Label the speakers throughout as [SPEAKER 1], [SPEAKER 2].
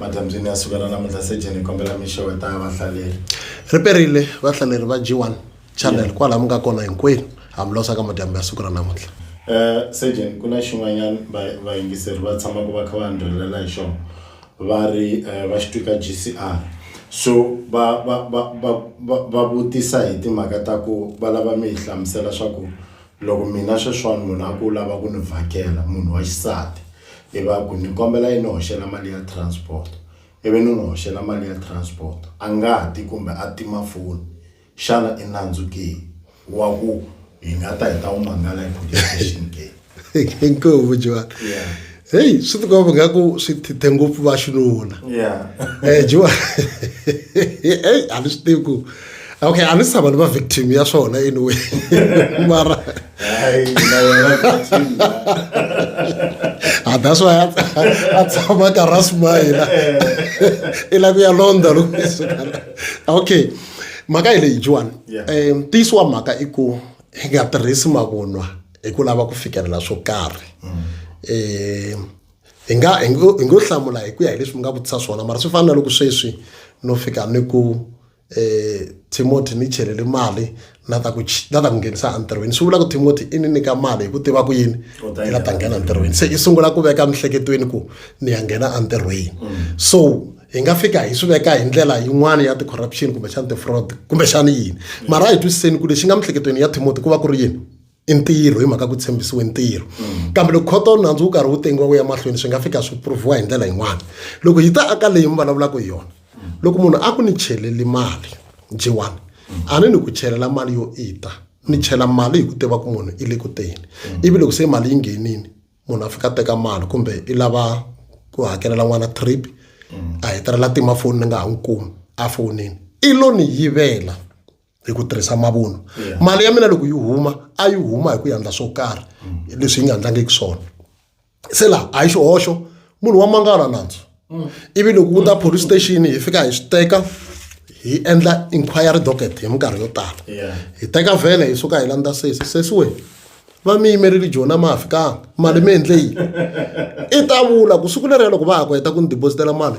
[SPEAKER 1] Madyambyini ya sukela namuntlha sejeni hi kombela mi xeweta vahlaleri. Ri perile
[SPEAKER 2] vahlaleri va G1 channel kwala mi nga kona hinkwenu ha mi losa ka madyambu ya siku ra namuntlha. Eh sejeni
[SPEAKER 1] ku na xin'wanyana vayingiseri va tshamaka va kha va ndhwelela hi xona va ri eh, va xi twika GCR so va va va va va vutisa hi timhaka ta ku va lava mi hi hlamusela swa ku Loko mina sweswiwani munhu a ku u lava ku ni vhakela munhu wa xisati ivi a ku ni kombela i ni hoxela mali ya transport ivi ni n'wi hoxela mali ya transport a nga ti kumbe a tima foni xana i nandzu ke wa ku hi nga ta hi ta wu mangala hi police station ke. Inkomu
[SPEAKER 2] Johan. heyi swi tikomba ingaku swi thithe ngopfu va xinuna um jiwa eyi a ni swi tivi ku okay a ni si tshama ni va victim ya swona anyway mara a that's why a tshama ka rasmayina i la ku ya londha loko okay mhaka hi leyi jiwani um ntiyiso wa mhaka i ku hi nga tirhisi mavunwa hi ku lava ku fikelela swo karhi eh, hi nga hi ngo hlamula hi ku ya hi leswi mi nga vutisa swona mara swi fana na loko sweswi no fika ni ku eh Timothy ni chelele mali na ta ku na ta ku nghenisa entirhweni swi vula ku Timothy i ni nyika mali hi ku tiva ku yini i la ta nghena entirhweni se i sungula ku veka mihleketweni ku ni ya nghena entirhweni mm. so hi nga fika hi swi veka hi ndlela yin'wana ya ti-corruption kumbexana ti-fraud kumbexana yini mm. mara hi twisiseni ku lexi nga mihleketweni ya Timothy ku va ku ri yini i ntirho hi mhaka ku tshembisiwe ntirho mm. kambe loko khoto nandzu wu karhi wu tengiwa wu ya mahlweni swi nga fika swi pruviwa hi ndlela yin'wana loko hi ta aka leyi mi vulavulaka hi yona mm. loko munhu a ku ni cheleli mali jiwani mm. a ni ni ku chelela mali yo ita ni chela mali hi ku tiva ku munhu i le ku teni ivi loko se mali yi nghenini munhu a fika teka mali kumbe i lava ku hakelela n'wana trip a hetelela tima foni ni nga ha n'wi kumi a fonini i lo ni yivela hi ku tirhisa mavunwa mali ya mina loko yi huma a yi huma hi ku yandla swo karhi mm. leswi yi nga ndlangiki swona se laha a yi xihoxo munhu wa mangala nandzu mm. ivi loko ku ta police station hi fika hi swi teka hi endla inquiry docket hi minkarhi yo tala hi teka vhele hi suka hi landza sesi sesi we va mi yimerile jona ma fikanga mali mi endle yini i ta vula ku siku leriya loko va ha ku heta ku ni dibositela mali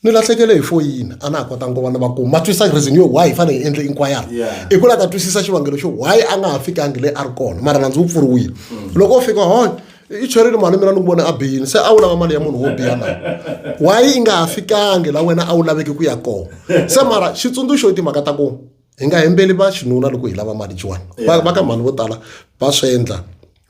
[SPEAKER 2] ni lahlekele hi foyini a na ha kotanga ku va na vakumi ma twisisa reason yo why hi fanele hi endle inquiry i ku la ta twisisa xivangelo xo why a nga ha fikangi leyi a ri kona mara nandzi wu pfuriwile mm. loko u fika hoy i cherile mali mina ni ku vona a biyini se a wu lava mali ya munhu wo biya na why i nga ha fikangi la wena a wu laveki ku ya kona se mara xitsundzuxo i timhaka ta ku hi nga hembeli va xinuna loko hi lava mali jiwani va ka mhani vo tala va swi endla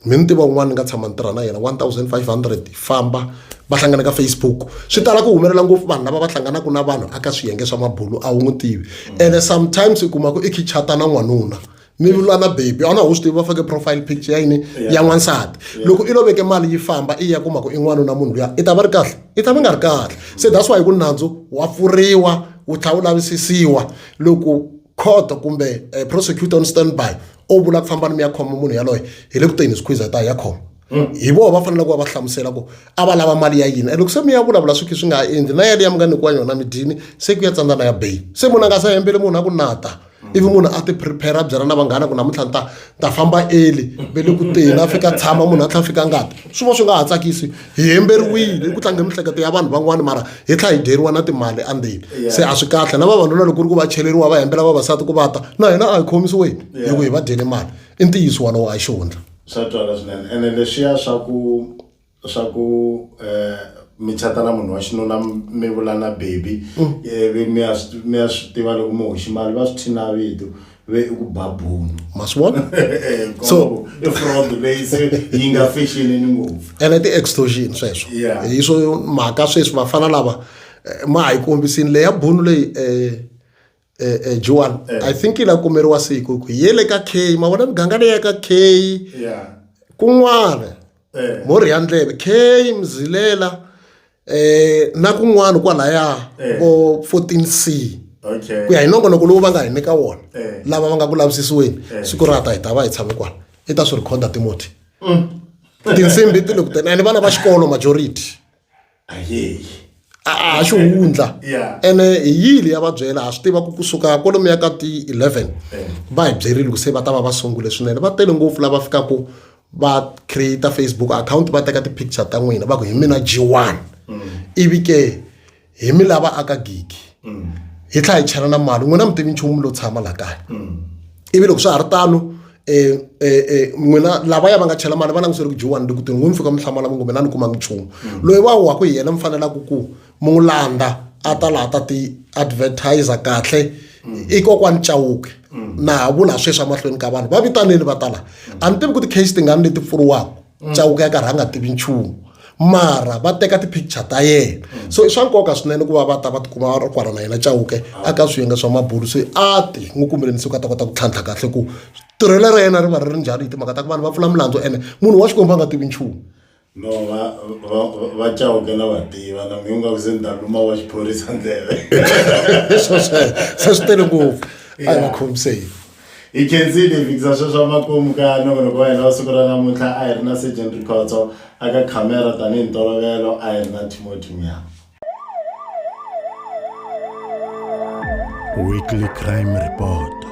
[SPEAKER 2] mi ni tiva un'wana ni nga tshama ni tirha na yena 1500 famba va hlangana ka facebook swi tala ku humelela ngopfu vanhu lava va hlanganaka na vanhu aka swiyenge swa mabulu a wu n'wi tivi mm. ene sometimes u kuma ku i khichata na n'wanuna mi lula na baby a wu na wu swi tivi va fake profile picture ya yini ya n'wansati loko i lo veke mali yi famba i ya kuma ku i n'wanuna munhu luya i ta va ri kahle i ta va nga ri kahle se that's why ku nandzu wa pfuriwa wu tlha wu lavisisiwa loko khoto kumbe eh, prosecutor on standby o vula ku fambani mi ya khoma munhu yaloye hi le ku teni squeeze ta ya khoma hmm. hi vona va fanele ku va va hlamusela ku a va lava mali ya yini loko se mi ya vulavula swi khe swi nga endli na yaleyo ya mi nga nyikiwa yona mi dyini se ku ya tsandzana ya bail se munhu a nga sa hembeli munhu a ku nata ivi munhu a ti prepare a byela na vanghana ku namuntlha ni ta ta famba eli ve le ku teni a fika tshama munhu a tlha fika ngati swi va swi nga ha tsakisi hi hemberiwile i ku tlange miehleketo ya vanhu van'wani mara hi tlha hi dyeriwa na timali andzeni se a swi kahle na vavanuna loko ri ku va cheleriwa va hembela vavasati ku vata na hina a hi khomisiweni hi ku hi va dyele mali i ntiyiso walowo a xihundla swa twala swinene
[SPEAKER 1] ene leswiya swa ku swa ku eh, mi chata na munhu wa xinuna mi vula na baby mm. eh, mi ya swi tiva loko mi hoxi mali va swi thina vito ve i ku ba bunu ma swi vona eh,
[SPEAKER 2] so
[SPEAKER 1] i fraud leyi se yi nga fexeleni ngopfu ene ti-extortion
[SPEAKER 2] sweswo hi swo mhaka sweswi vafana lava ma ha yi kombisini leya bunu leyi um eh, eh, Juan eh. I think la kumeriwa siku ku yele ka K ma vona miganga leyi ka K yeah kun'wana eh. mori ya ndleve k mzilela eh na kun'wana kwalaya eh. vo 14c ku ya hi nongonoko lowu va nga hi nyika wona eh. lava va nga ku lavisisiweni siku ra ta hi ta va hi tshame kwala i ta swi rhikhoda timoti mm. tinsimbi ti le ku tena ene vana va xikolo majority
[SPEAKER 1] ayeyi a a ha
[SPEAKER 2] xihundla Yeah. ene hi
[SPEAKER 1] yili ya
[SPEAKER 2] va byela ha swi tiva ku kusuka kwalomu ya ka ti-11 va hi byerile ku se va ta va va sungule swinene va tele ngopfu lava fikaka va create facebook account va teka ti-picture ta n'wina va ku hi mina g1 ivi ke hi mi lava aka gigi mm. hi tlhela hi chela na mali n'wina mi tivi nchumu lo tshama laha kaya mm. ivi loko swa ha ri tano um eh, eh, eh, n'wina lavaya va nga chela mali va langutisele ku dyiwani loko tin'wi mi fika mi hlamala mi kumbe na ni kumanga nchumu mm. loyi wa waku hi yena mi fanelaka ku mi n'wi landa a ta laha ta ti-advertiser kahle i kokwani chawuke na ha vula sweswi emahlweni ka vanhu va vitanile va tala a ni tivi ku ti-case tingani leti pfuriwaka mm. chauka ya karhi a nga tivi nchumu mara va teka ti-picture ta yena mm. so i swa nkoka swinene ku va va ta va tikuma va ri kwala na yena chauke ah. aka swiyenge swa mabulu se a ti n'wi kumeleni se ku a ta kota ku tlhantlha kahle ku tirhelo ra yena ri va ri ri njhani hi timhaka ta ku vanhu va pfula milandzu ene munhu wa xikwembu a nga tivi nchumu no va
[SPEAKER 1] va va chauke na va tiva na mi nga ku se ni ta luma wa xiphorisa ndleve
[SPEAKER 2] se swi tele ngopfu a hi va khomiseni hi khensile
[SPEAKER 1] hi fikisa sweswo makumu ka nongonoko wa hina wa siku ra namuntlha a hi ri na sergeant rikhotso aka khamera tanihi ntolovelo a hi ri na timoti mya
[SPEAKER 3] weekly crime report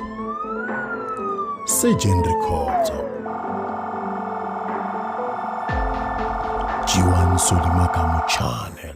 [SPEAKER 3] sergeant rikhotso jiwan solimakamu channel